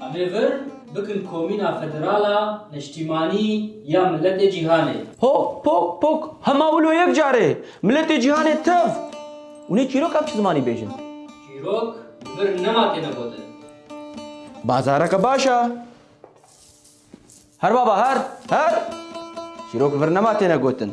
Amê vir bikin Komîna Federal a Neştîmanî ya Miletê Cîhanê. Pok, pok, pok! Hema wilo yek carê! Miletê Cîhanê tev! Û nê çîrok ev çi zimanî bêjin? Çîrok li vir nema têne gotin. Bazareke baş e! Her baba her! Her! Çîrok li vir nema têne gotin.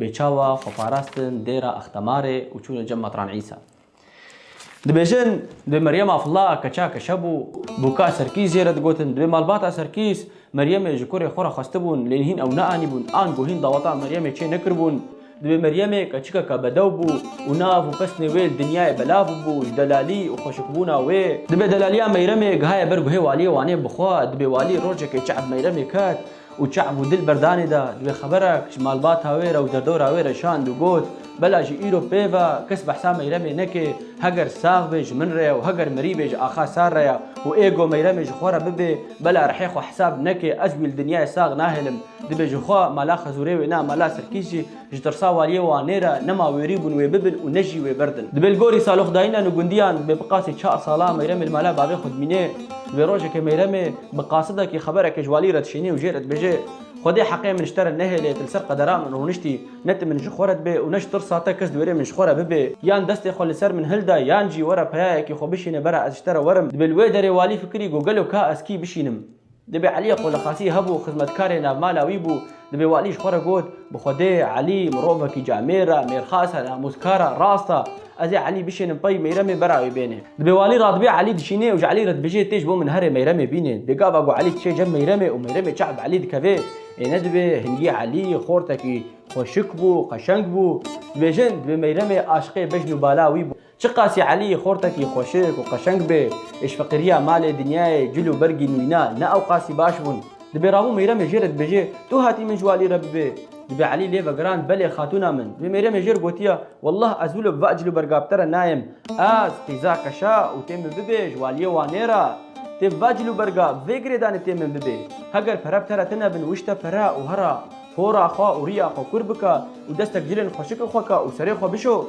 Bê çawa xwe parastin dêra Axtamarê û çûne cem Matran Îsa. Dibêjin, dibê Meryem Afla keça keşe bû. Bûka Serkîs jê re digotin. Dibê malbata Serkîs, Meryemê ji kurê xwe re xwestibûn, lê hîn ew neanîbûn, an ku hîn daweta Meryemê çê nekiribûn. Dibê Meryemê keçikeke bedew bû û nav û pesnê wê li dinyayê belav bûbû ji delalî û xweşikbûna wê. Dibê delaliya Meyremê gihaye ber guhê waliyê Wanê bixwe. Dibê walî rojekê çe'b Meyremê ket. Û çav û dil berdanê da divê xeberek ji malbata wê re û derdora wê re şand û got, Bela ji îro pê ve kes behsa Meyremê neke, heger sax bê ji min re ye û heger mirî bê ji axa Sar re ye û ê go Meyremê ji xwe re bibê, bela rihê xwe hesab neke, ez wî li dinyayê sax nahêlim, dibê jixwe mala Xezûrê wêne mala Sirkîs jî. Ji tirsa waliyê Wanê re nema wêrî bûn wê bibin û ne jî wê birdin. Dibe li gorî saloxdayîna li gundiyan dibe bi qasî çar salan Meyremê li mala bavê xwe dimîne. Dibe rojekê Meyremê bi qasidekî xebereke ji waliyê re dişêne û jê re dibêje, Xwedê heqê min ji te re nehêle, tu li ser qedera min rûniştî, ne tu min ji xwe re dibe û ne ji tirsa te kes di wêrê min ji xwe re bibe. Yan destê xwe li ser min hilda yan jî were peyayekî xwe bişîne bera ez ji te re werim. Dibe li wê derê walî fikirî got gelo ka ez kî bişînim. Dibê Elîyê Qolexasî hebû xizmetkarê navmala wî bû. Dibê walî ji xwe re got, Bi Xwedê, Elî, mirovekî camêr e, mêrxas e, namûzkar e, rast e. Ez ê Elî bişênim pey, Meyremê bera wê bêne. Dibê walî radibê Elî dişînê û ji Elî re dibêje, Tê ji bo min here Meyremê bîne. Dê gava ku Elî diçe cem Meyremê û Meyremê çav bi Elî dikeve. Ê nedibê. Hingî Elî xortekî xweşik bû, qeşeng bû. Dibêjin, dibê Meyremê aşiqê bejn û bala wî bû. Çiqasî Elî Xortekî xweşik û qeşeng bê, êş feqîriya malê, dinyayê, cil û bergî nîna ne ewqasî baş bûn. Dibê Rabû Mêyremê jê re dibêje, Tu hatî min ji we alî re bibê. Dibê Elî lê vegiran, Belê xatûna min. Dibê Mêyremê jê re gotiya, Wallah ez wilo bi va cil û berga bi te re nayêm. Ez, qîza keşa û tê min bibê ji we aliyê Wanê re. Tê bi va cil û berga, bi vê girêdanê tê min bibê. Heger pere bi te re tine bin wişte pere û here, hora xwe û rîya xwe kûr bike û destek cilên xweşikê xwe ke û serê xwe bişo.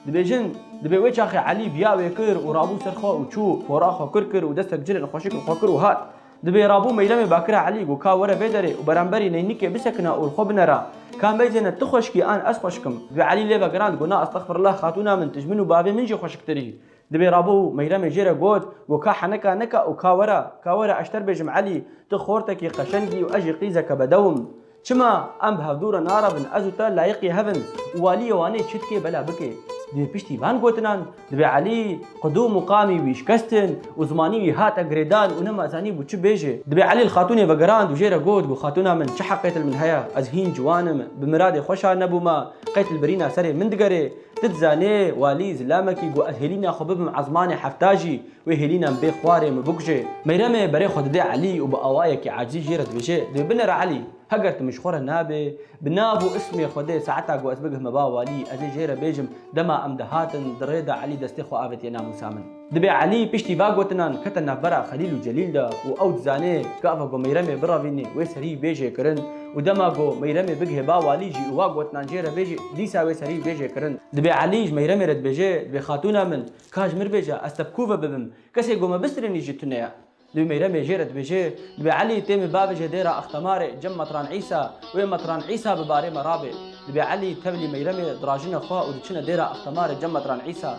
Dibêjin, Dibê wê çaxê Elî biya wê kir û rabû ser xwe û çû, pora xwe kur kir û destek cilên xweşik li xwe kir û hat. Dibê rabû meyremê bakira Elî got ka were vê derê û beramberî neynikê bisekina û li xwe binera, Ka meyzene tu xweşik î an ez xweşik im. Dibê Elî lê vegirand got na estexfirullah xatûna min tu ji min û bavê min jî xweşiktir î. Dibê rabû meyremê jê re got got ka heneka neka û ka were, ka were ez ji te re bêjim Elî tu xortekî qeşeng î û ez jî qîzeke bedew im. Çima em bi hevdû re narabin ez û te layiqî hev in û walîyê Wanê çi dike bela bike. Divê piştî van gotinan divê Elî qidû muqamî wî şikestin û zimanî wî hate girêdan û nema zanî bû çi bêje. Divê Elî li xatûnê vegirand û jê re got, got xatûna min çi heqê til min heye, ez hîn ciwan im, bi miradê xwe şa nebûme, qey til birîna serê min digerê. Ti dizanê, Walî zilamekî got ez hêlîna xwe bibim ezmanê hefta jî, Wê hêlînan bê xwarê min bikuje. Meyremê berê xwe dide Elî û bi awayekî acîl jê re dibêje, Divê binêre Elî. Heger tu min ji xwe re nabê, bi nav û ismê xwe dê saeta ku ez bigihme ba walî, ez ê jê re bêjim. Dema em dihatin, di rê de Elî destê xwe avêtiye namûsa min. Divê Elî piştî va gotinan kete navbera Xelîl û Celîl de û ew dizanê gava ku Meyremê biravînê wê serî bê jêkirin û dema ku Meyremê bigihê ba walî jî û va gotinan jê re bêjî, dîsa wê serî bê jêkirin. Divê Elî ji Meyremê re dibêje, Divê xatûna min, Ka ji mir bêje ez te bi ku ve bibim? Kesê ku me bistîrînî jî tu ne ye. Dibê Meyremê jê re dibêje, dibê Elî tê min bavêje dêra Axtamarê, cem Metran Îsa, wê Metran Îsa bi barê me rabê. Dibê Elî tevlî Meyremê dirajine xwe û diçine dêra Axtamarê, cem Metran Îsa.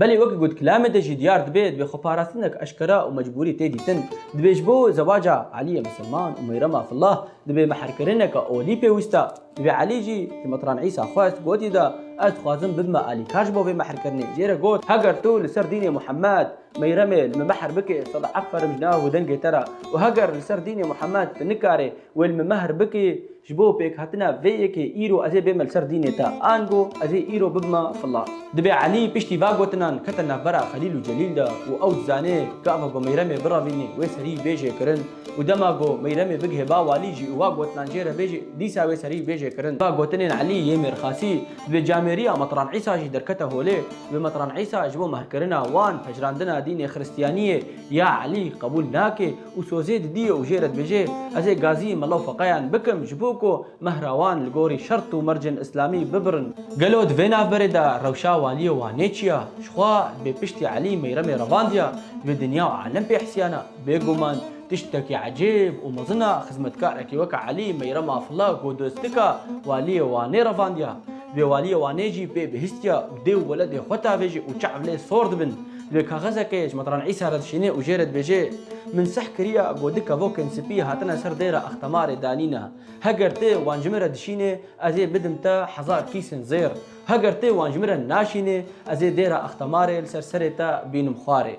Belê wek got kilamê de jî diyar dibe, divê xweparastinek eşkera û mecbûrî tê dîtin. Divê ji bo zewaca Elîyê Misilman û Meyrema Fillah divê mehrkirineke olî pêwîsta. Divê Elî jî ji Mitran Îsa xwest, gotî da ez dixwazim bibime alîkar ji bo vê mehrkirinê. Jê re got, heger tu li ser dînê Muhemed Meyremê li min mehr bikê, sed eferim ji nav û dengê te re û heger li ser dînê Muhemed tu nikarê, Wê li min mehr bikî ji bo pêkhatina vê yekê îro ez ê bême li ser dînê te, ango ez ê îro bibime fila. Dibê Elî piştî va gotinan kete navbera Xelîl û Celîl de û ew dizanê gava ku Meyremê biravînê wê serî bê jêkirin û dema ku Meyremê bigihê ba walî jî û va gotinan jê re bêje dîsa wê serî bê jêkirin. Va gotinên Elî yê mêrxasî di bê camêriya Metran Îsa jî derkete holê di bê Metran Îsa ji bo mehrkirina wan pejirandina dînê xiristiyaniyê ya Elî qebûl nake û sozê didiye û jê re dibêje, Ez ê gazî mela û feqeyan bikim ji bo ku mehrawan li gorî şert û mercên îslamî bibirin. Gelo di vê navberê de rewşa waliyê Wanê çi ya? Jixwe dibê piştî Elî Mêyremê revandiya divê dinya û alem pê hesiyana. Bêguman tiştekî ecêb û mezin a xizmetkarekî weke Elî Mêyrem Afilla ku dostika waliyê Wanê revandiya. Divê waliyê Wanê jî pê bihîstiya û dê û weledê xwe tavêje û çav lê sor dibin. Lê kaxizekê ji Matran Îsa re dişînê û jê re dibêje, Min sih kiriya ku du kevokên spî hatine ser dêra Axtamarê danîne. Heger tê wan ji min re dişînê, ez ê bidim te hezar kîsên zêr. Heger tê wan ji min re naşînê, ez ê dêra Axtamarê li ser serê te bînim xwarê.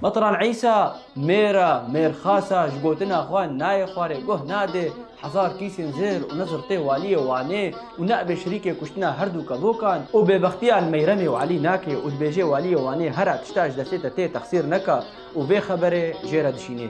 Matran Îsa mêra mêrxasa ji gotina xwe nayê xwarê guh nade. Hezar kîsên zêr û nizr tê Waliyê Wanê û neibê şirîkê kuştina herdû kevokan û bêbextiyan Meyremê û Elî nake û dibêje Waliyê Wanê here tişta ji destê te tê texsîr neka û vê xeberê jê re dişînê.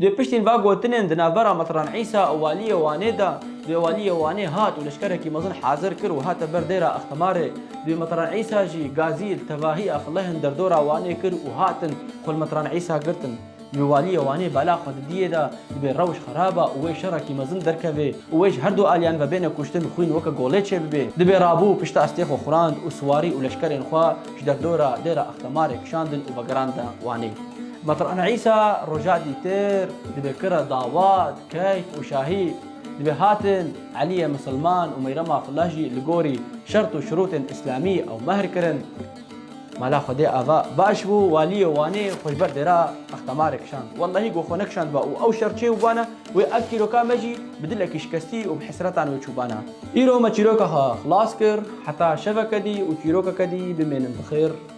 Dê piştîn va gotinên di navbera Mitran Îsa û Waliyê Wanê de dê Waliyê Wanê hat û leşkerekî mezin hazir kir û hate ber dêra Extimarê. Dê Mitran Îsa jî gazî li tevahî Exlehên derdora Wanê kir û hatin xwe li Mitran Îsa girtin. Divê Waliyê Wanê bala xwe di diyê de dibê rewş xeraba û wê şerekî mezin derkeve û wê ji her du aliyan ve bêne kuştin xwîn weke golê çêbibe. Dibê rabû pişta estê xwe xurand û siwarî û leşkerên xwe ji derdora dêra Extimarê kişandin û vegerandin Wanê. Meqran Îsa roja dîtir dibe kira Dawad, Keyf û Şahî dibe hatin, Elîye Misilman û Meyrema Flah jî li gorî şert û şirûtên îslamî ew mehr kirin. Mala Xwedê Ava baş bû, Walîyê Wanê xwe ji ber dêra Axtamarê kişand. Wellahî ku xwe nekişandba û ew şer çêbûbana wê ev çîroka me jî bi dilekî şikestî û bi hesretan wê çûbana. Îro me çîroka xwe xilas kir, heta şeveke dî û çîrokeke dî bimênin bi xêr.